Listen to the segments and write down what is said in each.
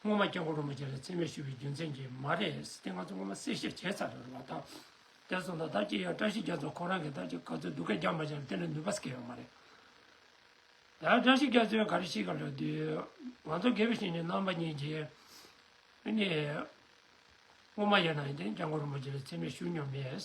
སྔོན་མ་སྐྱབས་འགོག་རུ་མ་བཅས་ལ་འཚེ་མེད་ཞུ་བའི་རྒྱུ་མཚན་གྱིས་མ་རེད་ཟེར་ཏེ་ང་ཚོ་སྔོན་མ་གསལ་བཤད་བྱས་ཚར་རེད་བ་དང། དེར་བཟོ་ན་ད་ཁྱེད་ཡང་བཀྲ་ཤིས་རྒྱ་མཚོ་ཁོང་རང་གིས་ད་ཁྱེད་ག་ཚོད་སྡུག་སྐད་རྒྱག་མ་བྱས་ན་དེ་ལས་ནུས་པ་སྐྱེ་ཡོད་མ་རེད། ད་བཀྲ་ཤིས་རྒྱ་མཚོས་ག་རེ་བཤད་གི་འདུག་ང་ཚོ་དགེ་བའི་བཤེས་གཉེན་རྣམ་པ་གཉིས་ཀྱིས། སྔོན་མ་ཡིན་ན་ཡང་སྐྱབས་འགོག་རུ་མ་བཅས་ལ་འཚེ་མེད་ཞུ་མྱོང་མེད།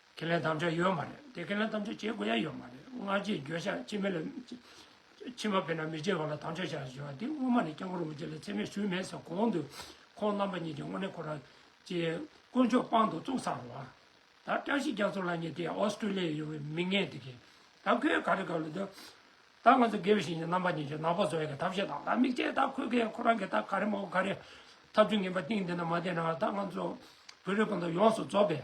ཁས་ལེན་དམ་བཅའ་ཡོད་མ་རེད་དེ་ཁས་ལེན་དམ་བཅའ་བྱེད་དགོས་ཡ་ཡོད་མ་རེད་སྔ་རྗེས་འགྱོད་བཤགས་ཕྱི་མི་ལ་ཕྱི་མ་བེད་ན་མི་བྱེད་པ་ལ་དམ་བཅའ་བྱ་ཞེས་པ་འདི་སྔོན་མ་ནས་སྐྱབས་མགོན་རིན་པོ་ཆེ་ལ་འཚེ་མེད་ཞུས་མེད་ཟེར་གོང་དུ་ཁོང་རྣམ་པ་གཉིས་ཀྱི་དངོས་གནས་ཁོ་རང་ཀྱི་དཀོན་མཆོག་དཔང་དུ་བཙུགས་ཚར་བ། ད་བཀྲ་ཤིས་རྒྱ་མཚོ་ལགས་གཉིས་དེ་ཨོ་སི་ཀྲི་ལི་ཡའི་ཡོང་བའི་མི་ངན་དེ་གིས་ད་ཁོས་ག་རེ་ག་རེ་འདུག་ད་ང་ཚོ་དགེ་བའི་བཤེས་གཉེན་རྣམ་པ་གཉིས་ཀྱིས་ནག་པོ་བཟོ་བའི་ཐབས་ཤེས་དང་ད་དམིགས་བྱས་ད་ཁོས་གིས་ཁོ་རང་གིས་ད་ག་རེ་མ་གོ་ག་རེ་ཐབས་ཚུལ་ངན་པ་གཏིང་འདི་ན་མ་བསྟན་ན་ད་ང་ཚོ་བོད་རིགས་སྤུན་ཟླ་ཡོངས་སུ་རྫོགས་པའི།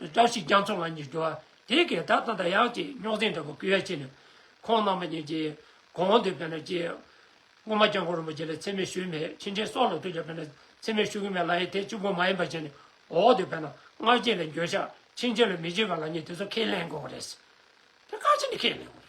བཀྲ་ཤིས་རྒྱ་མཚོ་ང་གཉིས་འགྲོ་བ་དེ་གའི་ད་ཐང་ད་ཡག་ཅིག་རྙོག་འཛིང་འདྲ་པོ་ཀི་ཡ་ཆེ་ནས་ཁོང་རྣམ་པ་གཉིས་ཀྱིས་གང་འདོད་བས་ན་ཅི། སྔོན་མ་སྐྱབས་མགོན་རིན་པོ་ཆེ་ལ་འཚེ་མེད་ཞུས་མེད་ཕྱིན་ཆད་སྲོག་ལ་ཐུག་ཀྱང་བས་ན་འཚེ་མེད་ཞུ་གི་མེད་ལ་ཡི་དེ་གཅིག་པོ་མ་ཡིན་པ་བྱས་ནས་འོག་ཏུ་བས་ན་སྔགས་རྗེས་ལ་འགྱོད་བཤགས་ཕྱིན་ཆད་ལ་མི་བྱེད་པ་ལ་ནི་དེ་ཚོ་ཁས་ལེན་དགོས་པ་རེད། དེ་ཁ་ཅིག་ནི་ཁས་ལེན་དགོས་རེད།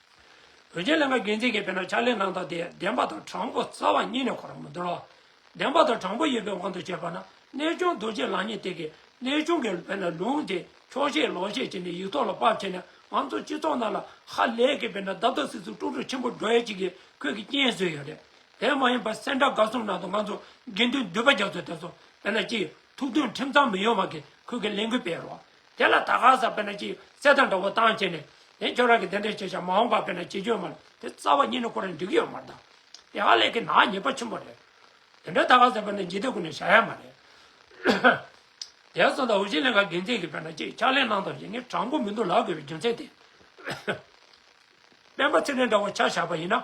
བོད་རྒྱལ་ལེན་པ་དགེ་མཚན་གྱི་དཔེར་ན་ཕྱག་ལེན་གནང་སྟངས་དེ་བདེན་པ་དང་དྲང་པོ་རྩ་བ་ཉིད་ནས་གོ་རང་མི་འདུག་ལ། བདེན་པ་དང་དྲང་པོ་ཡིན་པའི་དབང་དུ་བྱས་པ་ན་གནས་སྐྱོང་རྡོ་རྗེ་ལགས་ཉིད་དེ་གའི་གནས་ཆུང་གི་དཔེར་ན་ལུང་དེ་འཁྱོག་བཤད་ལོག་བཤད་བྱས་ནས་ཡིག་ཐོག་ལ་དཔར་བྱས་ནས་ང་ཚོ་སྤྱི་ཚོགས་ནང་ལ་ཧ་ལས་ཀྱི་དཔེར་ན་རྡབ་རྡབ་སིག་སིག་དཀྲུག་དཀྲུག་ཆེན་པོ་འགྲོ་ཡ་ཅིག་གིས་ཁོད་ཀྱི་རྐྱེན་བཟོས་ཡོད་རེད་དེ་མ་ཡིན་པར་སེར་འདྲ་དགའ་གསུམ་ནང་དུ་ང་ཚོ་དགེ་འདུན་འདུས་པ་རྒྱ་མཚོ་དེ་ཚོ་དཔེར་ན་སྤྱི་ཐུགས་འདུན་ཁྲིམས་གཙང་མི་ཡོང་བ་གིས་ཁུལ་གྱི་ལས་འགུལ་སྤེལ་རོགས། དེ་ལ་ད་ག་ཟག་དཔེར་ན་ཅིག་གསལ་དང་འདྲ་བོ་བཏང་བྱས་ནས། དེ་ཁྱོད་རང་གིས་དེ་འདྲས་བྱས་ཤག་མ་འོང་པ་དཔེར་ན་ཅི་འཇོན་མར་དེ་རྩ་བ་ཉིད་ནས་ཁོ་རང་འགྲིག་གི་ཡོད་མ་གདའ། དེ་ཧ་ལས་ཀྱི་ནག་ཉེས་པ་ཆེན་པོ་རེད། དེ་འདྲས་ད་ག་ཟག་དཔེར་ན་འཇིག་རྟེན་ཀུན་ནས་བྱ་ཡ་མ་རེད། དེ་སོང་ད་འུ་ཅིའི་ལས་ཀ་དགེ་མཚན་གྱིས་དཔེར་ན་ཅིག་ཕྱག་ལས་གནང་དང་ཞེས་ངས་དྲང་པོ་མི་འདུག་ལབ་དགོས་པའི་རྒྱུ་མཚན་དེ། སྤེན་པ་ཚེ་རིང་འདྲ་བོ་ཆ་བཞག་པ་ཡིན་ན།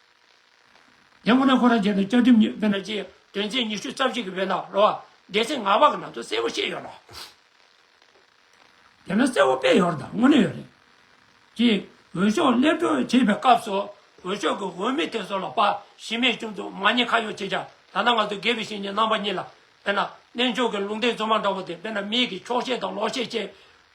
དེ་མུ་ན་ཁོ་རང་རྗེས་སུ་བཅའ་ཁྲིམས་དཔེར་ན་ཆེས་དོན་ཚན་ཉི་ཤུ་རྩ་བཞི་གི་བོད་ནང་རོ་བ་སྡེ་ཚན་ལྔ་པ་གི་ནང་དུ་གསལ་བོ་བཤད་ཡོད་ལ། དེ་ནི་གསལ་བོ་དཔེ་ཡོད་རེད་དམ་དངོས་གནས་ཡོད་རེད། གཅིག་འོས་ཤོག་སླེབས་གྲོལ་བྱེད་པའི་སྐབས་སུ་འོས་ཤོག་གི་འོས་མི་དེ་ཚོ་ལ་པ་ཞི་མེད་བྱུང་འདུག་མ་ཉེས་ཁ་ཡོག་བྱེད་ཀྱང་ད་ལྟ་ང་ཚོ་སྒེར་བའི་བཤེས་གཉེན་རྣམ་པ་གཉིས་ལ་དཔེར་ན་གནས་མཆོག་གི་ལུང་བསྟན་རྫུན་མ་འདྲ་བོ་དེ་དཔེར་ན་མིག་གིས་ཕྱོགས་ཞེན་དང་ལོག་ཤེས་བཅས་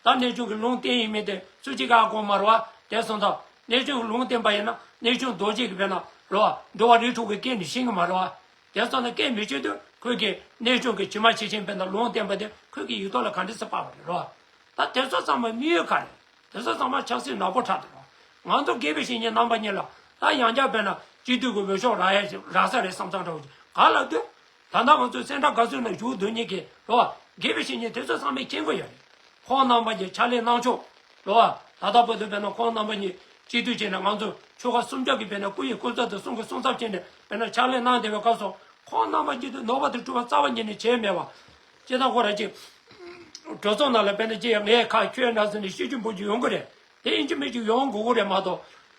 ད་གནས་ཆུང་གི་ལུང་བསྟན་ཡིན་མིན་དེ་སུ་གཅིག་ག་ཨ་ཀོང་མར་བ་དེ་གསུངས་དང། གནས་ཆུང་གི་ལུང་བསྟན་པ་ཡིན་ན་གནས་ཆུང་རྡོ་རྗེ་གི་བེ་ན་རོ་བ་འགྲོ་བ་རིགས་དྲུག་གི་སྐད་ནི་ཤིང་གི་མར་བ། དེ་གསུངས་ན་སྐད་མི་ཆོད་དུས་ཁོད་ཀྱིས་གནས་ཆུང་གི་ཕྱི་མ་ཕྱི་ཆེན་བེ་ན་ལུང་བསྟན་པ་དེ་ཁོད་ཀྱི་ཡིག་ཐོག་ལ་ག་འདྲི་སི་པ་བ་རེད་རོ། ད་དེ་ཚོ་ཚང་མ་དམིགས་ཡུལ་ག་རེད་དེ་ཚོ་ཚང་མ་ཆགས་སི་ན་གོ་ཁྲ་དུ་རོ། ང་ཚོ་དགེ་བེ་ཤིང་གཉེན་རྣམ་པ་གཉིས་ལ་ད་ཡང་བསྐྱར་བེ་ན་སྤྱི་འཐུས་གི་འོས་ཤོག་རགས་ཡ་རགས་ས་རེད་བསམ་ཚང་ཁྲ་བོ་ཅིག་ག་ལ་དུས་ད་ལྟ་ང་ཚོས་སེམས་ཁྲལ་ག་ཚོད་ནང་ཞུགས་འདུག་ཉིད་ཀྱིས་ལོ། དགེ་བའི་བཤེས་གཉེན་དེ་ཚོ་ཚང་མས་མཁྱེན་དགོས་ཡ་རེད། ཁོང་རྣམ་པ་གྱིས་ཕྱག་ལས་གནང་ཕྱོགས། ལོ། ད་ལྟ་བོད་དུ་བས་ན་ཁོང་རྣམ་པ་གཉིས་གཅིག་སྡུད་བྱས་ནས་ང་ཚོ་ཆོལ་ཁ་གསུམ་ཆ་གིས་བས་ན་སྐུ་ཡི་སྐུ་ཚབ་དང་གསུང་གི་གསུང་ཚབ་བྱས་ནས་བས་ན་ཕྱག་ལས་གནང་བདེ་བའི་སྐབས་སོ། ཁོང་རྣམ་པ་གཉིས་དུ་ནོར་བ་དང་བཀྲུ་བ་རྩ་བ་ཉིད་ནས་བྱས་མེད་བ། སྤྱི་དང་ཁོ་ར་གཅིག། གྲོས་ཚོགས་ནང་ལ་བས་ན་སྤྱི་ཡ་ངས་ཁ་ཁྱོད་ནང་སོན་ནས་ཤེས་རྒྱུ་འབུར་རྒྱུ་ཡོང་གི་རེད། དེ་ཡིན་གྱི་མེད་ཀྱི་ཡོང་དགོས་ཀྱི་རེད་མ་གཏོགས།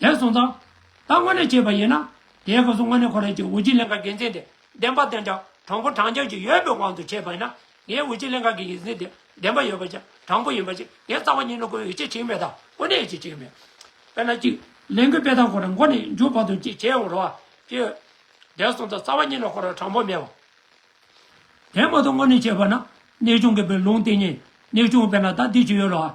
དེར་སོང་ཙང། ད་དངོས་གནས་བྱས་པ་ཡིན་ན། དེའི་སྐབས་སུ་དངོས་གནས་ཁོ་རང་གིས་འོས་སྤྱི་གླིང་ག་འགན་འཛིན་དེ་བདེན་པ་དོན་ཅང་དྲང་པོ་དྲང་རྒྱག་ཅིག་ཡོད་པའི་དབང་དུ་བྱས་པ་ཡིན་ན། ངའི་འོས་སྤྱི་གླིང་ག་གི་འགན་འཛིན་དེ་བདེན་པ་ཡོད་པ་ཅང་དྲང་པོ་ཡིན་པ་ཅིག་དེའི་རྩ་བ་ཉིད་ནི་ཁོའི་འོས་སྤྱི་བྱིངས་མེད་དང་དངོས་གནས་འོས་སྤྱི་བྱིངས་མེད། དཔེར་ན་གཅིག། ལས་འགུལ་སྤེལ་སྟངས་ཁོ་རང་མགོ་ནས་མཇུག་བར་དུ་གཅིག་བྱས་ཡོང་རོགས། གཅིག། དེར་སོང་ཙང་རྩ་བ་ཉིད་ནི་ཁོ་རང་དྲང་པོ་མེད་བ། དེ་མ་གཏོགས་དངོས་གནས་བྱས་པ་ན། གནས་ཆུང་གི་བུ་ལུང་བསྟན་ཉིད་གནས་ཆུང་དཔེར་ན་ད་འདི་བྱས་ཡོད་རོགས།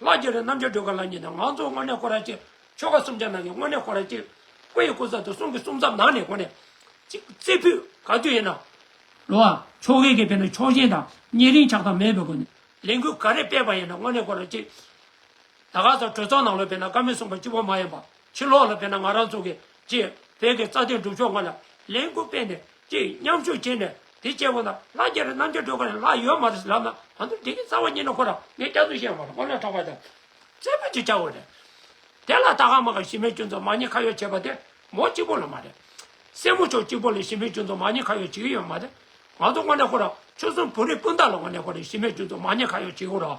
ལྷ་རྒྱལ་རི་རྣམ་རྒྱལ་སྒྲོལ་དཀར་ལགས་གཉིས་དང་ང་ཚོ་དངོས་གནས་ཁོ་རང་གཅིག་ཆོལ་ཁ་སུམ་ཆ་ནང་གི་དངོས་གནས་ཁོ་རང་གཅིག་སྐུ་ཡི་སྐུ་ཚབ་དང་གསུང་གི་གསུང་ཚབ་ནང་ནས་གོ་ནས་གཅིག་རྩེ་ཕུད་ག་དུས་ཡིན་ནའང། ལོ་བ། ཆོ་གའི་གི་དཔེར་ན་ཕྱོགས་ཞེན་དང་གཉེན་རིང་ཆགས་སྡང་མེད་པའི་སྒོ་ནས་ལས་འགུལ་ག་རེ་སྤེལ་པ་ཡིན་ནའང་དངོས་གནས་ཁོ་རང་གཅིག། ད་ག་ཚོད་གྲོས་ཚོགས་ནང་ལོ་སྤེལ་ན་བཀའ་མོལ་གསུང་པ་གཅིག་པོ་མ་ཡིན་པ་ཕྱི་ལོགས་ལ་སྤེལ་ན་ང་རང་ཚོ་གི་ཅེས་བོད་ཀྱི་རྩ་དོན་སྒྲུབ་ཕྱོགས་ལྔ་ལ་ལས་འགུལ་སྤེལ་ནས་ཀྱིས་མཉམ་ཞུགས་བྱས་ནས་དེ་བཅས་པོ་ལ་ལ་རྒྱ་རི་རྣམ་རྒྱལ་སྒྲོལ་དཀར་ཡང་ལ་ཡོད་མ་རེད་ལབ་ན་ང་ཚོ་འགྲིག་གི་རྩ་བ་ཉིད་ནས་ཁོ་རང་ངས་སྐྱག་རྫུན་བཤད་ཡོད་མ་རེད་ངོ་ལ་གྲགས་པ་དང་རྩེ་ཕུད་ཅིག་ཆགས་ཡོད་རེད་དེ་ལ་ད་ག་མ་ག་ཞི་མེད་ཅུང་ཙམ་མ་ཉེས་ཁ་ཡོད་བྱས་པ་དེ་མོ་གཅིག་པོ་ལ་མ་རེད་སྲས་མོ་ཕྱོགས་གཅིག་པོ་ལ་ཞི་མེད་ཅུང་ཙམ་མ་ཉེས་ཁ་ཡོད་བྱེད་ཀྱི་ཡོད་མ་རེད་ང་ཚོ་དངོས་གནས་ཁོ་རང་ཆོལ་གསུམ་བོད་རིགས་སྤུན་ཟླ་ལ་དངོས་གནས་ཁོ་རང་ཞི་མེད་ཅུང་ཙམ་མ་ཉེས་ཁ་ཡོད་བྱེད་ཀྱི་རོགས།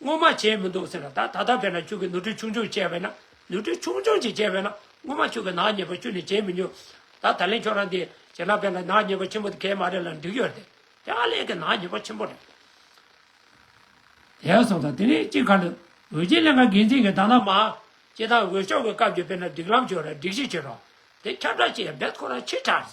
སྔོན་མ་བྱས་མི་འདུག་ཟེར་ན་ད་ད་ལྟ་བས་ན་ཁྱོད་ཀྱིས་ནུ་ཁྲུས་ཆུང་ཆུང་བྱས་པས་ན་ནུ་ཁྲུས་ཆུང་ཆུང་ཅིག་བྱས་པས་ན་སྔོན་མ་ཁྱོད་ཀྱིས་ནག་ཉེས་པ་བཅུ་ནི་བྱས་མི་ཉུང། ད་ད་ལན་ཁྱོད་རང་འདི་བྱས་ན་བས་ན་ནག་ཉེས་པ་ཆེན་པོ་དེ་གས་མ་རེད་ལ་འགྲིག་ཡོད་དེ། དེ་ཧ་ལས་ཀྱི་ནག་ཉེས་པ་ཆེན་པོ་རེད། ཞེས་གསུངས་དང་དེ་ནས་སྤྱི་ཁ་ལ་འོས་ཆེན་ལས་ཀ་འགན་འཛིན་གྱི་ད་ནག་མ། སྤྱི་བཏང་འོས་ཤོག་གི་སྐབས་ཀྱི་བས་ན་སྒྲིག་ལམ་བྱོས་ར་སྒྲིག་གཞི་བྱོས་རོགས། དེ་ཁྱབ་བསྒྲགས་བྱས་ཡ་འབད་ཁོ་རང་ཕྱིར་དྲགས།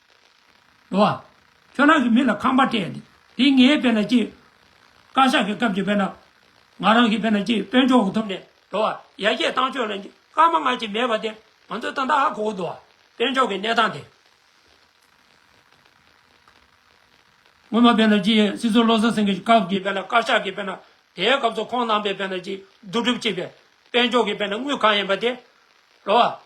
འགྲོ་བ། ཁྱོད་རང་གི་མི་ལ་ཁང་པ་སྤྲད་ཡོད། དེ་ངའི་དཔེ་ན་སྐྱིད། བཀའ་ཤག་གི་སྐབས་ཀྱི་དཔེ་ན། ང་རང་གི་དཔེ་ན་སྐྱིད་དཔོན་ཆུང་འུ་ཐུབ་ནས་འགྲོ་བ། ཡ་རྒྱས་བཏང་ཆོས་ལ་སྐྱིད་སྐར་མ་སྔ་ཕྱི་མེད་པ་དེ་ང་ཚོའི་ཏང་དང་ཨ་ཁོ་བོ་འགྲོ་བ། དཔོན་ཆུང་གི་གནས་སྟངས་དེ། སྔོན་མ་དཔེ་ན་སྐྱིད་སྲིད་ཚོ་བློ་བཟང་སེང་གེ་སྐབས་ཀྱི་དཔེ་ན་བཀའ་ཤག་གི་དཔེ་ན་དེའི་སྐབས་སུ་ཁོང་རྣམ་པའི་དཔེ་ན་སྐྱིད་བསྡུ་སྒྲུབ་ཅིག་པས་དཔོན་ཆུང་གི་དཔེ་ན་དངུལ་གང་ཡིན་པ་དེ། འགྲོ་བ།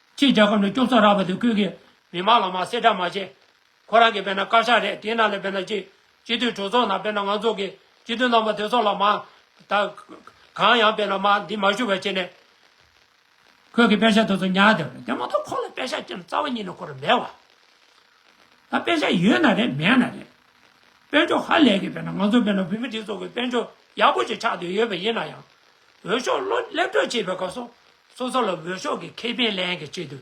ཁྱེད་རྒྱལ་ཁབ་ནས་སྐྱོབ་ཚོགས་རག་པ་དེ་ཁུལ་གྱི་མི་མང་ལ་མ་གསལ་ཁྲ་མ་བྱེད། ཁོ་རང་གིས་དཔེར་ན་དཀར་ཆག་རེད་དེའི་ནང་ལས་དཔེར་ན་སྤྱི་སྤྱི་མཐུན་གྲོས་ཚོགས་ནང་དཔེར་ན་ང་ཚོ་གི་སྤྱི་མཐུན་རྣམ་པ་དེ་ཚོ་ལ་མ་ད་གང་ཡང་དཔེར་ན་མ་འདི་མ་ཞུ་བ་བྱེད་ནས། ཁོས་གི་དཔེ་ཆ་དེ་ཚོ་ཉར་བསྡད་པ་རེད་དེ་མ་ཏོག་ཁོ་ལ་དཔེ་ཆ་ཅན་རྩ་བ་ཉིད་ནས་ཁོ་ར་མེད་བ། ད་དཔེ་ཆ་ཡོད་ན་རེད་མེད་ན་རེད་དཔེར་འཇོག་ཧ་ལས་གི་དཔེར་ན་ང་ཚོ་དཔེར་ན་བོད་མི་དེ་ཚོ་གི་དཔེར་འཇོག་ཡག་པོ་ཞིག་ཆགས་འདོད་ཡོད་པ་ཡིན་ན་ཡང། འོས་ཤོག་བློ་སླེབས་གྲོས་བྱེད་པའི་སྐབས་སུ་སོ་སོ་ལ་འོས་ཤོག་གི་ཁེ་ཕན་ལེན་གྱི་ཆེད་དུ།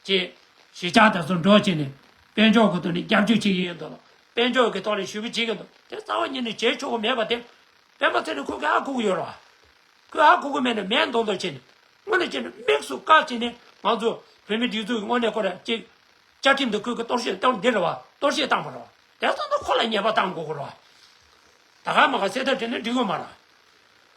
ཅེས། གཞིས་ཆགས་དེ་ཚོ་འགྲོ་བྱེད་ནི། དཔལ་འབྱོར་གྱི་ཐོག་ནས་རྒྱབ་སྐྱོར་བྱེད་ཀྱི་ཡོད་འདུག་ལ། དཔལ་འབྱོར་གྱི་ཐོག་ནས་ཞུ་བ་བྱེད་ཀྱི་འདུག་དེ་རྩ་བ་ཉིད་ནས་བྱེད་ཆོག་གི་མེད་པ་དེ། སྤེན་པ་ཚེ་ནི་ཁོ་གི་ཧ་གོ་གི་ཡོད་རེད་བ། ཁོས་ཧ་གོ་གི་མེད་ནས་མས་མདོག་མདོག་བྱས་ནས། དངོས་ནས་བྱས་ནས་དམིགས་སུ་བཀར་བྱས་ནས་ང་ཚོ་བོད་མིའི་སྒྲིག་འཛུགས་ཀྱི་དངོས་གནས་སྐོར་རེད་ཅེས། བཅའ་ཁྲིམས་དང་ཁོས་གི་གཏོར་བཤིག་གཏོང་འདི་རེད་བ་གཏོར་བཤིག་བཏང་བ་རེད་བ། དེ་ཚོ་ནི་ཁོ་ལ་ཉེས་པ་བཏང་དགོས་གི་རེད་བ། ད་ག་མ་ག་སེ་ད་དྲི་ནི་འདྲི་གི་མ་རེད།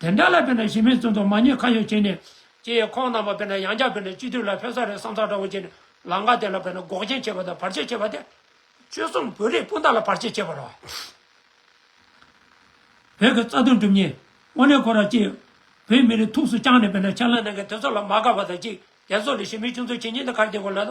དེ་འདྲ་ལ་དཔེར་ན་གཞི་མེད་བཙོན་དུ་མ་ཉེས་ཁ་ཡོག་བྱས་ནས། སྤྱི་ཡི་ཁོངས་རྣམས་པ་དཔེར་ན་ཡང་བསྐྱར་དཔེར་ན་སྤྱི་འཐུས་ལ་ཕེབས་ས་རེད་བསམ་ཚགས་འདྲ་བོ་བྱས་ནས་ལང་ཀ་དེ་ལ་དཔེར་ན་འགོག་རྐྱེན་བྱས་པ་དང་བར་ཆད་བྱས་པ་སྟེ། ཆོལ་གསུམ་བོད་རིགས་སྤུན་ཟླ་ལ་བར་ཆད་བྱས་པ་རེད། བོད་ཀྱི་རྩ་དོན་སྒྲུབ་ཉིན་དངོས་གནས་ཁོ་རང་སྤྱི། བོད་མི་རིགས་ཐུགས་སུ་བཅངས་ནས་དཔེར་ན་ཕྱག་ལས་གནང་མཁན་དེ་ཚོ་ལ་མ་དགའ་བ་དང་གཅིག་དེ་ཚོ་ལས་གཞི་མེད་ཆུང་ཚོ་བྱེད་ཉིན་དེ་གར་བསྡད་དགོས་ལ།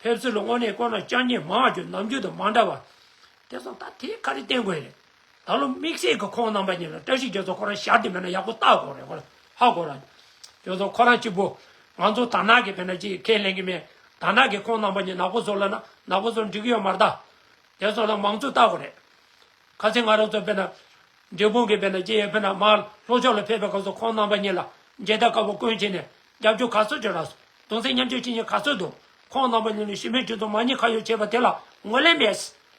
ཕེབས་ཚུལ་དངོས་གནས་དཀོན་ལ་སྤྱང་ཉེས་མང་རྒྱུ་ནམ་རྒྱུན་དུ་མ་འདྲ་བ། དེ་བཟང་ད་དེའི་ཁ་རི་བསྟན་དགོས་རེད། ད་ལོ་དམིགས་བསལ་གྱི་ཁོང་རྣམ་པ་གཉིས་ལ་བཀྲ་ཤིས་རྒྱལ་མཚོ་ཁོ་རང་ཞར་དུ་མེད་ན་ཡག་པོ་བལྟ་དགོས་རེད་ཧོ་ལ་ཧ་གོ་ར། རྒྱལ་མཚོ་ཁོ་རང་གཅིག་པོ། ང་ཚོ་དར་ནག་གི་བེད་ན་ཅི་ཡི་ཁས་ལེན་གི་མེད། དར་ནག་གི་ཁོང་རྣམ་པ་གཉིས་ནག་པོ་བཟོ་ལ་ན་ནག་པོ་བཟོ་འགྲིག་གི་ཡོད་མ་རེད་ད། དེ་ཚོ་ལ་མང་གཙོ་བལྟ་དགོས་རེད། ཁ་ཚིག་ང་རང་ཚོ་བེད་ན། འབྲས་སྤུངས་ཀྱི་བེད་ན་ཅི་ཡི་བེད་ན་མ་ལྷོ་ཕྱོགས་ལ་ཕེབས་པའི་སྐབས་སུ་ཁོང་རྣམ་པ་གཉིས་ལ་མཇལ་དར་དཀར་པོ་བསྐོན་བྱས་ནས་རྒྱབ་སྐྱོར་ག་ཚོད་བྱེད་ར་སོང་དུང་སེ་མཉམ་སྤྱོད་བྱེད་མཁན་ག་ཚོད་འདུག་ཁོང་རྣམ་པ་གཉིས་ནས་ཞི་མོལ་བྱེད་དུ་མ་ཉེ་ཁ་ཡོད་བྱས་པ་དེ་ལ་ངོས་ལེན་མེད།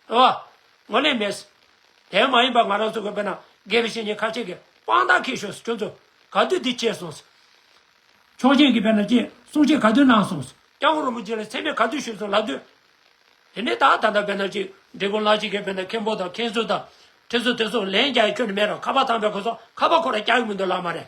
ཨོ། ངོས་ལེན་མེད། དེ་མ་ཡིན་པ་ང་རང་ཚོ་གི་བོད་ནང་དགེ་བའི་བཤེས་གཉེན་ཁ་ཆེ་གི་དཔང་རྟགས་ཁེལ་ཞོག་སུ་ཁྱོད་ཚོ་ག་དུས་འདི་བྱས་སོང་སུ། ཆོག་མཆན་གི་བོད་ནང་བཅས་གསུང་བཤད་ག་དུས་གནང་སོང་སུ། སྐྱག་ཧོར་རིན་པོ་ཆེ་ལ་མཚན་སྨད་ག་དུས་ཞུས་སོང་ལབ་དུས། དེ་ནས་ད་ད་ལྟ་བོད་ནང་གཅིག་འབྲི་གུང་ལགས་གཅིག་གི་བོད་ནང་མཁན་པོ་དང་མཁན་ཟུར་དང། ཁྲི་ཟུར་དེ་ཚོ་ལན་རྒྱག་ཡ་ཁྱོན་ནས་མེད་ར་ཁ་པ་ཐང་པའི་གོ་ཚོགས་ཁ་པ་ཁོ་ར་རྒྱག་གི་མི་འདུག་ལགས་མ་རེད།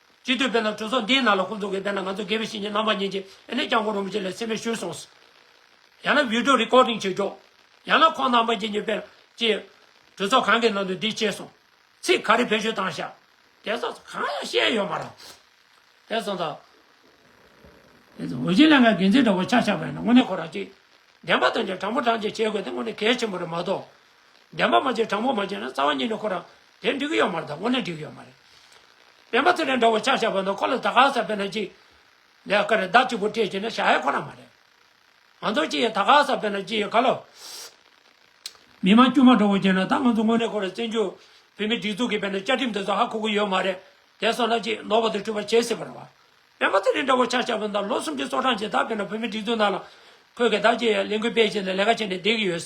སྤྱི་འཐུས་དཔལ་ལྡན་གྲོས་ཚོགས་འདིའི་ནང་ལ་ཁོང་ཚོ་གིས་བསྡད་ན་ང་ཚོ་དགེ་བའི་བཤེས་གཉེན་རྣམ་པ་གཉིས་ཀྱིས་ཨེ་ནས་ཀྱང་གོ་རུ་མི་ཆེ་ལས་སེམས་པའི་ཤུལ་སོང་སོང། ཡང་ན་བིའུ་ཏུ་རི་ཀོར་ཏིང་བྱེད་ཆོག། ཡང་ན་ཁོང་རྣམ་པ་གཉིས་ཀྱིས་དཔལ། ཅེས། གྲོས་ཚོགས་གང་གི་ནང་དུ་འདི་བཤད་སོང། ཚིག་ག་རེ་བེད་སྤྱོད་བཏང་བཞག། དེ་ཚོ་གང་ཡང་བཤད་ཡོད་མ་རང། དེ་ཚོ་ད། དེ་ཚོ་འོས་ཆེན་ལས་ཀའི་འགན་འཛིན་འདྲ་བོ་ཆགས་ཆགས་པ་ཡིན་ན་དངོས་གནས་ཁོ་རང་གཅིག། བདེན་པ་དོན་གྱི་དྲང་པོ་དྲང་བདེན་བྱེད་དགོས་དེ་དངོས་གནས་གལ་ཆེན་པོ་རེད་མ་གཏོགས། བདེན་པ་མ་བྱས་དྲང་པོ་མ་བྱས་ན་རྩ་བ་ཉིད་ནས་ཁོ་རང་དེ་འགྲིག་གི་ཡོད་མ་རེད་ད་དངོས་གནས་འགྲིག་གི་ཡོད་མ་རེད། བདེན་པ་དེ་ལས་འདྲ་བོ་ཆགས་ཆགས་པ་འདུག་ཁོ་ལ་ད་ག་ཟེར་བས་ན་ཅི། ལས་ཀ་རེད་བདག་གཅིག་པུ་སྤྲད་ཅེས་ན་བྱ་ཡས་ཁོ་རང་མ་རེད། ང་ཚོར་ཅི་ཡོད་ད་ག་ཟེར་བས་ན་ཅི་ཡོད་ག་ལོ། མི་དམངས་དཀྱུས་མ་འདྲ་བོ་བྱས་ན་ད་ང་ཚོ་དངོས་གནས་ཁོ་རང་བཙན་བྱོལ་བོད་མིའི་སྒྲིག་འཛུགས་ཀྱི་བས་ན་བཅའ་ཁྲིམས་དེ་ཚོ་ཧ་གོ་གི་ཡོད་མ་རེད་དེ་སོང་ན་ཅི་ནོར་བ་དེ་འཁྲུལ་བ་བྱེད་སྲིད་པ་རེད་བ། བདེན་པ་དེ་ལས་འདྲ་བོ་ཆགས་ཆགས་པ་འདུག་ལོ་སུམ་ཅུ་སོ་གྲངས་རྗེས་ད་བས་ན་བོད་མིའི་སྒྲིག་འཛུགས་ནང་ལ། ཁོས་ཀྱི་ད་ཅི་ཡོད་ལས་འགུལ་སྤེལ་བྱས་ནས་ལས་ཀ་བྱས་ནས་བསྡད་ཀྱི་ཡོད།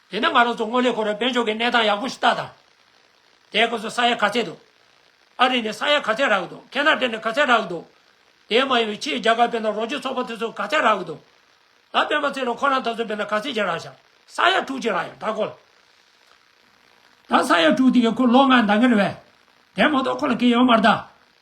དེ་ནས་ང་རང་ཚོ་སྔོན་ལས་ཁོ་རང་དཔལ་འབྱོར་གྱི་གནས་སྟངས་ཡག་པོ་ཞིག་བལྟ་དང། དེ་ཁོ་ཚོ་ས་ཡ་ག་ཚད་འདུག་ཨ་རི་ནས་ས་ཡ་ག་ཚད་རག་གི་འདུག་ཁེ་ན་ཏྲེ་ནས་ག་ཚད་རག་གི་འདུག་དེ་མ་ཡིན་པའི་ཕྱིའི་རྒྱ་གར་བས་ན་རོགས་སྐྱོར་ཚོགས་པ་དེ་ཚོ་ག་ཚད་རག་གི་འདུག་ད་སྤེན་པ་ཚེ་རིང་ཁོ་རང་ད་ཚོད་བས་ན་ག་ཚད་ཅིག་རག་བཞག་ས་ཡ་དྲུག་ཅིག་རག་ཡང་ད་ཁོ་ད་ས་ཡ་དྲུག་དེ་གའི་ཁོ་ལོ་ལྔ་འདང་གི་རེད་བས། དེ་མ་གཏོགས་ཁོ་ལ་གི་ཡོང་མ་རེད་ད།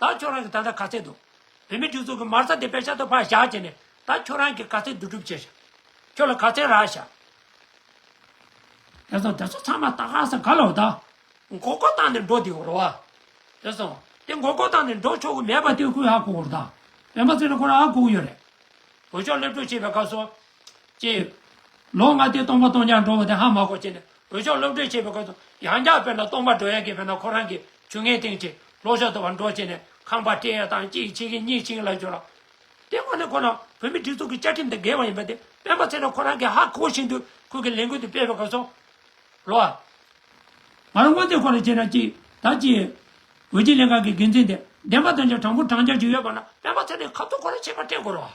ད་ཁྱོད་རང་གི་ད་ལྟ་ག་ཚད་འདུག། བུད་མེད་དྲུག་ཚོགས་ཀྱི་མར་ཚ་དེ་བེ་ཤ་དོ་ཕ་ཞག་བྱས་ནས་ད་ཁྱོད་རང་གི་ག་ཚད་འདུག་སྒྲུབ་བྱེད་ཤག། ཁྱོད་ལ་ག་ཚད་རག་ཤག། དེ་སོང་དེ་ཚོ་ཚང་མ་ད་ག་ས་ག་ལ་འོ་ད། མགོ་སྐོར་བཏང་ནས་འགྲོ་དེ་འོ་རོ་ཨ། དེ་སོང་དེ་མགོ་སྐོར་བཏང་ནས་འགྲོ་ཆོག་གི་མེད་པ་དེ་ཁོས་ཧ་གོ་འོ་རོ་ད། བེ་མ་ཚེ་ན་ཁོ་རང་ཧ་གོ་གི་ཡོད་རེད། བོད་ཤོག་སླེབས་གྲོ་བྱེད་པའི་སྐབས་སོ། ཅེས། ལོ་ལྔ་དེ་སྟོང་པ་སྟོང་ཆར་འགྲོ་བ་དེ་ཧ་མ་གོ་བྱས་ནས་བོད་ལྗོངས་སློབ་གྲྭས་བྱས་པའི་སྐོར་དུ་ཡང་བསྐྱར་དཔེར་ན་སྟོང་པ་སྒྲོལ་ཡང་གིས་དཔེར་ན་ཁོ་རང་གིས་ཇུ་ངན་སྟེང་བྲིས་ལོག་ཤོག་དུ་བར་འགྲོ་བྱས་ནས་ཁང་པ་སྤྲད་ཡ་དང་གཅིག་བྱེད་ཀྱི་གཉིས་བྱིངས་ལ་བསྒྱུར་ལ། དེ་མ་ནི་ཁོ་རང་བོད་མིའི་སྒྲིག་འཛུགས་ཀྱི་བཅའ་ཁྲིམས་དང་འགལ་བ་ཡིན་པ་དེ་སྤེན་པ་ཚེ་རིང་ཁོ་རང་གིས་ཧ་གོ་བཞིན་དུ་ཁོས་ཀྱི་ལས་འགུལ་དེ་སྤེལ་བའི་སྐོར་སོགས་ལོ། ང་རང་སྔོན་ཚོད་ཁོ་ལ་བྱས་ན་གཅིག་དང་གཅིག། བོད་སྤྱི་ལས་ཁང་གི་འགན་འཛིན་དེ་བདེན་པ་དང་ཆ་དྲང་པོ་དྲང་རྒྱ་ཅིག་ཡོད་པ་ན་སྤེན་པ་ཚེ་རིང་ག་ཚོད་ཁོ་རང་བྱས་པ་བཀྲལ་དགོས་རོགས།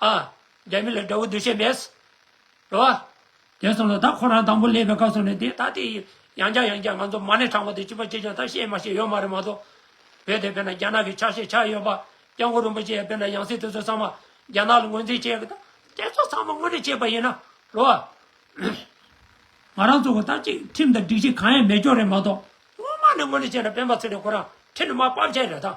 ཨ། རྒྱ་མི་ལ་དགྲ་བོ་འདུ་ཤེས་མེད། རེད་བ། དེ་སོང་ལ་ད་ཁོ་རང་དང་པོ་སླེབས་པའི་སྐབས་སོང་ནས་དེ་ད་དེ་ཡང་བསྐྱར་ཡང་བསྐྱར་ང་ཚོ་མ་ཎི་དྲངས་པ་དེ་ཅི་བ་ཅི་བྱུང་ད་བཤད་མ་ཤེས་ཡོད་མ་རེད་མ་གཏོགས། བོད་དེ་དཔེར་ན་རྒྱ་ནག་གི་ཆགས་ཤེས་ཆགས་ཡོད་པ། སྐྱབས་མགོན་རིན་པོ་ཆེ་ཡང་དཔེར་ན་ཡང་སྲིད་དེ་ཚོ་ཚང་མ་རྒྱ་ནག་ལ་ངོས་འཛིན་བྱེད། དེ་ཚོ་ཚང་མ་དངོས་གནས་བྱེད་པ་ཡིན་ན། རེད་བ། ང་རང་ཚོ་གོ་ད་ཅིག་ཁྲིམས་དང་སྒྲིག་གཞི་གང་ཡང་མེད་སྐྱོར་རེད་མ་གཏོགས། སྔོན་མ་ནས་དངོས་གནས་བྱས་ན་སྤེན་པ་ཚེ་རིང་ཁོ་རང་ཁྲི་ནས་མར་དཔའ་བྱས་རེད་ད།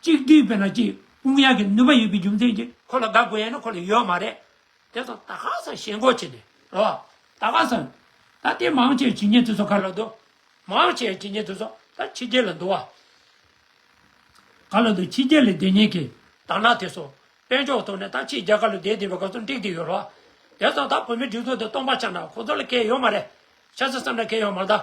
གཅིག་བསྡུས་པས་ན་གཅིག་དཔུང་གཡག་གི་ནུས་པ་ཡོད་པའི་རྒྱུ་མཚན་གྱིས་ཁོ་ལ་དགའ་དགོས་ཡ་ན་ཁོ་ལ་ཡོད་མ་རེད། དེ་ཚོ་ད་ག་ས་ཞེན་གོ་བྱེད་ནས་རེད་བ། ད་ག་ས། ད་དེ་མང་བྱས་ཇི་སྙེད་དེ་ཚོ་ག་ལ་འདུག། མང་བྱས་ཇི་སྙེད་དེ་ཚོ་ད་ཕྱི་རྒྱལ་ལ་འདུག་བ། ག་ལ་འདུག་ཕྱི་རྒྱལ་ལས་བདེ་ཉེས་ཀྱིས་དར་ནག་དེ་ཚོ་དཔལ་འབྱོར་ཐོག་ནས་ད་ཕྱི་རྒྱལ་ག་ལ་བདེ་བདེ་བའི་ག་ཚོད་འགྲིག་བསྡད་ཡོད་རེད་བ། དེ་ཚོ་ད་བོད་མི་སྒྲིག་འཛུགས་དེ་སྟོང་པ་ཆགས་ན་ཁོ་ཚོ་ལ་སྐལ་ཡོད་མ་རེད། ཆགས་ཚེ་བསམ་ན་སྐལ་ཡོད་མ་རེད།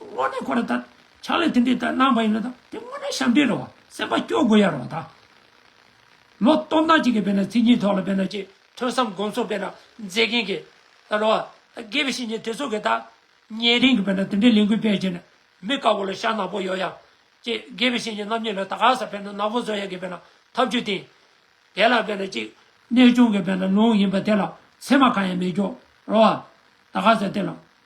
དངོས་གནས་ཁོ་ར་ད་ཆགས་ལས་དེ་འདྲས་ད་གནང་བ་ཡིན་ལ་ད་དེ་དངོས་གནས་ཞབས་འདྲས་རེད་བ་སེམས་པ་སྐྱོ་དགོས་ཡ་རེད་བ་ད། ལོ་སྟོང་ཕྲག་གཅིག་གི་བེད་ན་ཚིག་གཉིས་ཐོག་ལ་བེད་ན་ཀྱི་ཐོས་བསམ་དགོངས་ཚོགས་བེད་ན་མཛད་མཁན་གི་ད་རོ་བ་དགེ་བའི་བཤེས་གཉེན་དེ་ཚོ་གི་ད་ཉན་རིང་གི་བེད་ན་དེ་འདྲས་ལས་འགུལ་སྤེལ་ཀྱི་ན་མི་དཀར་བོ་ལ་ཤ་ནག་པོ་ཡོད་ཡ། ཀྱི་དགེ་བའི་བཤེས་གཉེན་རྣམ་གཉིས་ལ་ད་ག་ས་བེད་ན་ནག་པོ་བཟོ་ཡ་གི་བེད་ན་ཐབས་ཇུས་བསྟན། དེ་ལ་བེད་ན་ཀྱི་གནས་སྐྱོང་གི་བེད་ན་ལུང་ཡིན་པ་དེ་ལ་ཚད་མ་གང་ཡང་མེད་ཀྱོ་རོ་བ་ད་ག་ས་དེ་ལ།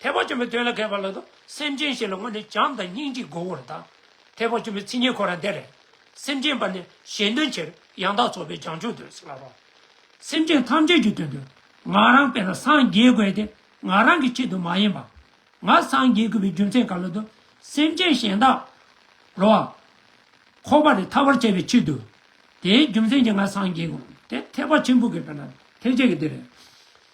ཐེག་པ་ཆེན་པོའི་དོན་ལ་མཁས་པ་ལ་དང་སེམས་ཅན་ཞིག་ལ་སྔོན་ནས་བྱམས་དང་སྙིང་རྗེས་མགོ་བོར་དང། ཐེག་པ་ཆེན་པོའི་ཚིག་ཉེར་མཁོ་རང་དེ་རེད། སེམས་ཅན་པ་ནི་གཞན་དོན་ཕྱིར་ཡང་དག་རྫོགས་པའི་བྱང་ཆུབ་ཏུ་སླར་བ། སེམས་ཅན་ཐམས་ཅད་ཀྱི་དོན་དུ་ང་རང་དཔེར་ན་སངས་རྒྱས་དགོས་ཏེ་ང་རང་གི་ཆེད་དུ་མ་ཡིན་པ། ང་སངས་རྒྱས་དགོས་པའི་རྒྱུ་མཚན་ག་ལ་དུ་སེམས་ཅན་གཞན་དག་རུ་བ། འཁོར་བ་ལས་ཐར་བར་བྱ་བའི་ཕྱིར་དུ། དེའི་རྒྱུ་མཚན་གྱིས་ང་སངས་རྒྱས་དགོས་ཏེ་ཐེག་པ་ཆེན་པོ་དགོས་པས་ན་ཐེག་ཆེན་གྱི་དོན་རེད།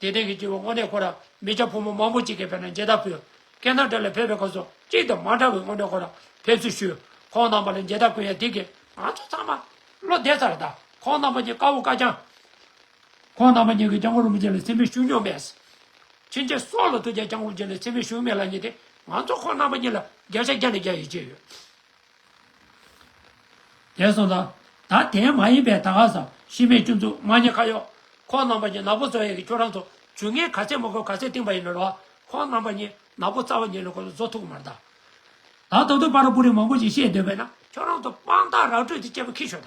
དེ་སྟེང་གི་སྐྱེ་བོ་དངོས་གནས་ཁོ་རང་མི་སྐྱ་ཕོ་མོ་མང་པོ་གཅིག་གི་བེད་ན་མཇལ་དར་ཕུལ། སྐད་ནག་སྒྲ་ལས་ཕེབས་པའི་སྐོར་སོགས་གཅིག་དང་མ་འདྲ་བའི་དངོས་གནས་ཁོ་རང་ཕེབས་ཚུལ་ཞུས། ཁོང་རྣམ་པ་ལ་མཇལ་དར་བསྐུར་ཡང་དེ་གས་ང་ཚོ་ཚང་མ། བློ་བདེ་ཚར་དང་ཁོང་རྣམ་པ་གཉིས་དཀར་བོ་དཀར་ལྗང། ཁོང་རྣམ་པ་གཉིས་ཀྱིས་སྐྱབས་མགོན་རིན་པོ་ཆེ་ལ་ཚིམ་པས་ཞུ་མྱོང་མེད། ཕྱིན་ཆད་སྲོག་ལ་ཐུག་ཀྱང་སྐྱབས་མགོན་རིན་པོ་ཆེ་ལ་ཚིམ་པས་ཞུ་མེད་ལབ་ཉེས་ཏེ་ང་ཚོ་ཁོང་རྣམ་པ་གཉིས་ལ་བརྒྱ་ཆ་བརྒྱ་ནས་བརྒྱ་ཡིས་བརྗེས་ཡོད། དེ་སོང་ཙང། ད་དེའི་མ་ཡིན་པའི་ད་ག་ས་ཤི་མེད་བཅུ་མཛུག་མ་ཉི་ཁ་གཡོག། ཁོང་རྣམ་པ་གཉིས་ནག་པོ་བཟོ་ཡས་ཀྱི་ཁྱོད་རང་ཚོ་ཇུ་ངའི་ག་ཚད་མོ་ཁོའི་ག་ཚད་ཏིང་པ་ཡིན་ནོ་ར་བ་ཁོང་རྣམ་པ་གཉིས་ནག་པོ་རྩ་བ་ཉིད་ལ་ཁོ་ཚོ་བཟོ་ཐུག་མར་ད། ད་ད་དུང་པ་ར་པུ་རིང་མང་པོ་ཞིག་བཤད་འདོད་པས་ན་ཁྱོད་རང་ཚོ་དཔང་རྟགས་རག་སྤྲོད་དེ་སྐྱེས་པ་ཁི་ཤོ་ད།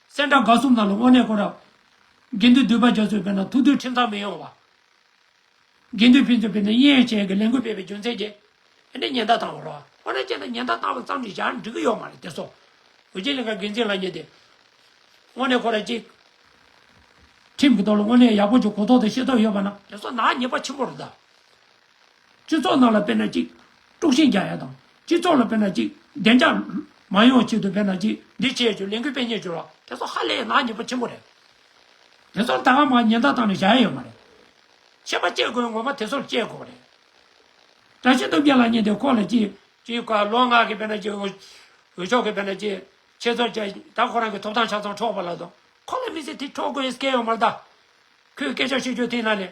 སེང་སྒྲ་དགའ་གསུམ་དང་ལོ་དབོན་གནས་སྐོར་རབ། དགེ་འདུན་འདུས་པ་རྒྱ་མཚོའི་དཔལ་དང་ཐུགས་འདུན་ཁྲིམས་ཐག་མི་ཡོང་བ། དགེ་འདུན་ཕན་ཚུན་བེད་ན་དབྱིན་ཡིག་ཅན་གྱི་ལས་འགུལ་སྤེལ་བའི་རྒྱུ་མཚན་གྱིས། ཨེ་འདྲའི་ཉེན་བརྡ་བཏང་བ་རོ། ཨོ་ན་ཅན་དང་ཉེན་བརྡ་བཏང་བ་ཙམ་གྱིས་ཞར་འགྲིག་གི་ཡོད་མ་རེད་དེ་སོགས། འོད་ཆེན་ལིང་ག་འགན་འཛིན་ལགས་ཉིད་དེ། དབོན་གནས་སྐོར་རབ་གཅིག། ཁྲིམས་ཀྱི་ཐོག་ལ་དབོན་གནས་ཡག་པོ་གྱི་གོ་རྟོགས་དང་ཤེས་རྟོགས་ཡོད་པ་ན། དེ་སོགས་ནག་ཉེས་པ་ཆེན་པོ་རེད་ད། སྤྱི་ཚོགས་ནང་ལ་དཔེར་ན་ཅིག། དཀྲུགས་ཤིང་རྒྱག་ཡ་དང། སྤྱི་ཚོགས་ལ་དཔེར་ན་ཅིག། བདེ་འཇགས། མ་ཡོང་ཆེད་དུ་དཔེར་ན་ཅིག། འདི་བྱས་བྱོས་ལས་འགུལ་སྤེལ་ཉེས་བྱོས་བ། དེ་ཚོ་ཧ་ལས་ནག་ཉེས་པོ་ཆེན་པོ་རེད། དེ་ཚོར་ད་ག་མ་ཉེན་བརྡ་བཏང་ནས་བཞག་ཡ་ཡོད་མ་རེད། ཤེས་པ་བསྐྱེད་དགོས་ངོ་མ་དེ་ཚོར་བསྐྱེད་དགོས་པ་རེད། བཀྲ་ཤིས་སྟོབས་རྒྱལ་ལགས་གཉིས་དེ་ཁོག་ལ་ཅིག། ཅིག་ག་ལོ་ནག་གི་དཔེར་ན་ཅིག། འོས་ཤོག་གི་དཔེར་ན་ཅིག། ཆེད་ཚོར་བྱས། ད་ཁོ་རང་གི་ཐོབ་ཐང་ཆ་ཚང་འཕྲོག་པ་ལ་དང། ཁོ་ལ་མི་ཚེ་དེ་འཕྲོག་དགོས་ཡས་སྐལ་ཡོད་མ་རེད་ད། ཁོས་སྐད་ཆ་ཤོད་རྒྱུ་དེ་ན་ལས།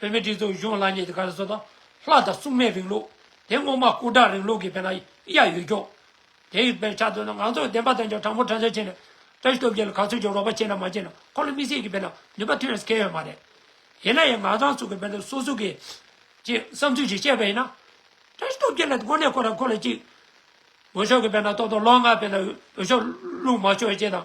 བོད་མི་སྒྲིག་འཛུགས་གཞུང་ལ་ཉེ་དུ་ག་རེ་བཟོ་དང། ལྷ་དང་སྲུང་མའི་རིང་ལུགས། དེ་སྔོན་མ་སྐུ་དྲག་རིང་ལུགས་ཀྱི་བེ་ན་ཡ་ཡོད་ཀྱང། དེའི་བེ་ཆ་དོན་ན་ང་ཚོ་བདེན་པ་དོན་ཀྱང་དྲང་པོ་དྲང་བདེན་བྱས་ནས། བཀྲ་ཤིས་སྟོབས་རྒྱལ་ལ་ག་ཚོད་ཀྱིས་རོགས་པ་བྱས་ན་མ་བྱས་ན་ཁོ་ལ་མི་སེར་གྱི་བེ་ན་ནུས་པ་ཐོན་ཡས་ཁེལ་ཡོད་མ་རེད། ཡིན་ན་ཡང་ང་ཚང་ཚུགས་ཀྱི་བེ་ན་སོ་སོ་གིས། ཅེས་བསམ་ཚུལ་ཞིག་བཤད་པ་ཡིན་ན། བཀྲ་ཤིས་སྟོབས་རྒྱལ་ལ་དངོས་གནས་ཁོ་རང་ཁོ་ལ་ཅིག། འོས་ཤོག་གི་བེ་ན་ཏོག་ཏོག་ལོག་ང་བེ་ན་འོས་ཤོག་བླུག་མ་ཤོག་ཅེས་དང།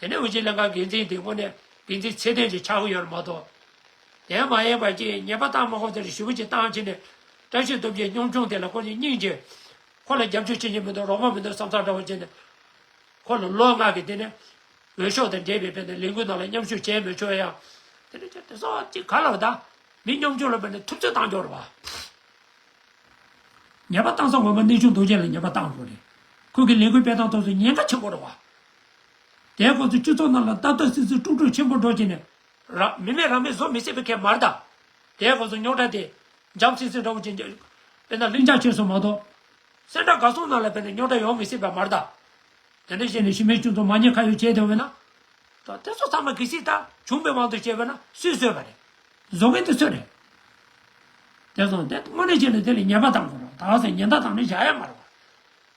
དེ་ནས་དབུས་སྤྱི་ལྷན་ཁང་འགན་འཛིན་དེ་སྔོན་ནས་འགན་འཛིན་ཚེ་བརྟན་གྱི་ཕྱག་དབུ་ཡོད་མ་གཏོགས། དེའང་མ་ཡིན་པར་ཀྱི་ཉེས་པ་དང་མ་ཁོང་ཚོ་རེ་ཞུ་བུ་ཅིག་བཏང་ཕྱིན་ནས། བཀྲ་ཤིས་སྟོབས་རྒྱལ་གཉོམ་ཆུང་དེ་ལ་ཁོང་ཉིད་སྙིང་རྗེ། ཁོ་ལ་རྒྱབ་སྐྱོར་བྱེད་ཀྱི་མི་འདུག་རོགས་པ་མི་འདུག་བསམ་ཚགས་འདྲ་བོ་བྱས་ནས། ཁོ་ལ་ལོ་ལྔ་གི་དེ་ནས། འོས་ཤོག་དང་འབྲེལ་བའི་བོད་ནས་ལས་འགུལ་ནང་ལ་མཉམ་ཞུགས་བྱས་མོད་ཆོག་ཡ། དེ་ནས་ཁྱོད་དེ་ཚོ་ཅིག་ག་ལ་བ་ད། མི་གཉོམ་ཆུང་ལ་བོད་ནས་ཐུབ་ཚོད་བཏང་རྒྱོག་རོགས་བ། ཉེས་པ་བཏང་ས་ངོ་མ་གནས་ཆུང་དོ་ཅན་ལ་ཉེས་པ་བཏང་དགོས་རེད། ཁོང་གི་ལས་འགུལ་སྤེལ་སྟངས་ཐོག་སུ་ཉེན་ཁ་ཆེན་པོ་རེད་བ། དེའི་སྐོར་དུ་སྤྱི་ཚོགས་ནང་ལ་ཏག་ཏག་སིད་སིད་དཀྲུག་དཀྲུག་ཆེན་པོ་སྒྲོག་བྱས་ནས། མི་མེད་རང་མེད་བཟོ་མི་སྲིད་པའི་ཁལ་མར་དང། དེའི་སྐོར་དུ་རྙོག་དྲ་དེ། འཇམ་སིང་སིང་འདྲ་བོ་ཅན། དཔེར་ན་ལྷིང་འཇགས་ཆོས་སོགས་མ་གཏོགས། སེམས་སྒྲ་དགའ་གསུང་ནང་ལ་དཔེར་ན་རྙོག་དྲ་ཡོང་མི་སྲིད་པའི་མར་དང། དེ་འདྲ་བྱས་ནས་ཤི་མེད་ཅུང་ཙམ་མ་ཉེས་ཁ་ཡོད་བྱས་བསྡད་འོས་ན། ད་དེ་ཚོ་ཚང་མ་གི་སིད་ལྟར་བྱུང་པའི་དབང་དུ་བྱས་པས་ན་སུས་བཟོས་པ་རེད། བཟོ་མཁན་དེ་སུ་རེད། དེ་སོང་དེ་དངོས་གནས་བྱས་ནས་དེ་ལས་ཉེས་པ་དང་གོ་རོགས་དག་ཟེར་ཉེན་བརྡ་དང་ནི་བཞག་ཡ་མ་རེད་བ།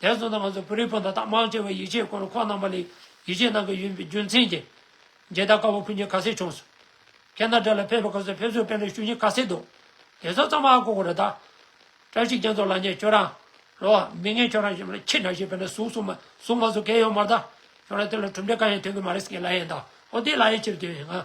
དེར་མཚོན་ན་ང་ཚོས་བོད་རིགས་སྤུན་ཟླ་དག་མང་ཆེ་བས་ཡིག་ཆའི་སྐོར་ཁོག་རྣམ་པ་ལས་ཡིག་ཆའི་ནང་གི་ཡུན་པའི་རྒྱུ་མཚན་གྱིས། མཇལ་དར་དཀར་པོ་ཕུལ་རྒྱུ་ཁ་གསལ་བྱུང་སོང། ཁྱེད་རྣམས་དགྲ་ལ་ཕེབས་པའི་སྐབས་སུ་ཕེབས་བསུ་དཔེ་ལེགས་ཞུ་རྒྱུ་ཁ་གསལ་འདུག་དེ་ཚོ་ཙམ་ཨ་གོ་གོ་རེ་ད། བཀྲ་ཤིས་རྒྱ་མཚོ་ལགས་ངས་ཁྱོད་རང། ལོ། མི་ངན་ཁྱོད་རང་ཞིག་མིན་ཁྱི་འདྲ་ཞིག་དཔེར་ན་ཟུག་སུག་མ་ཟུག་མ་ཟུག་གས་ཡོད་མར་ད། ཁྱོད་རང་དེ་ལ་གྲུབ་འབྲས་གང་ཡང་ཐོན་གི་མ་རེད་ཟེར་གི་ལ་ཡེ་ད། ཨོ་དེ་ལ་ཡེ་ཕྱིར་དེ་བས་ང།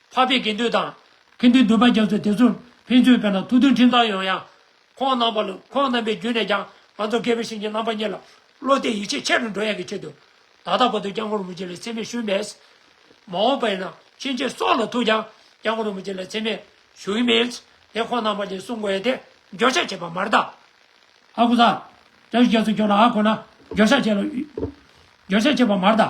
འཕགས་པའི་དགེ་འདུན་དང། ཁེ་འདུན་འདུས་པ་རྒྱ་མཚོས་དེ་ཚོར་ཕན་ཚུན་བོས་ན་ཐུགས་མཐུན་ཁྲིམས་གཙང་ཡོང་ཡང། ཁོང་རྣམ་པ་ལུགས་ཁོང་རྣམ་པའི་རྒྱུད་ནས་ཀྱང་ང་ཚོ་སྐལ་བའི་ཞིང་གི་རྣམ་པ་གཉིས་ལ་བློ་གཏད་ཡིད་ཆེས་ཆེ་རུ་འགྲོ་ཡག་གི་ཆེད་དུ། ད་ལྟ་བར་དུ་སྐྱབས་མགོན་རིན་པོ་ཆེ་ལ་འཚེ་མེད་ཞུས་མེད། མ་འོངས་པ་ཡིན་ན་ཕྱིན་ཆད་སྲོག་ལ་ཐུག་ཀྱང་སྐྱབས་མགོན་རིན་པོ་ཆེ་ལ་འཚེ་མེད་ཞུ་གི་མེད། དེ་ཁོང་རྣམ་པ་གཉིས་གསུང་དགོས་ཡ་དེ་འགྱོད་བཤགས་བྱེད་པ་མ་རེད་ད། ཨ་ཁུ་ཟ། བཀྲ་ཤིས་རྒྱ་མཚོས་ཁྱོད་ལ་ཨ་ཁོ་ན་འགྱོད་བཤགས་བྱེད་ལ། འགྱོད་བཤགས་བྱེད་པ་མ་རེད་ད།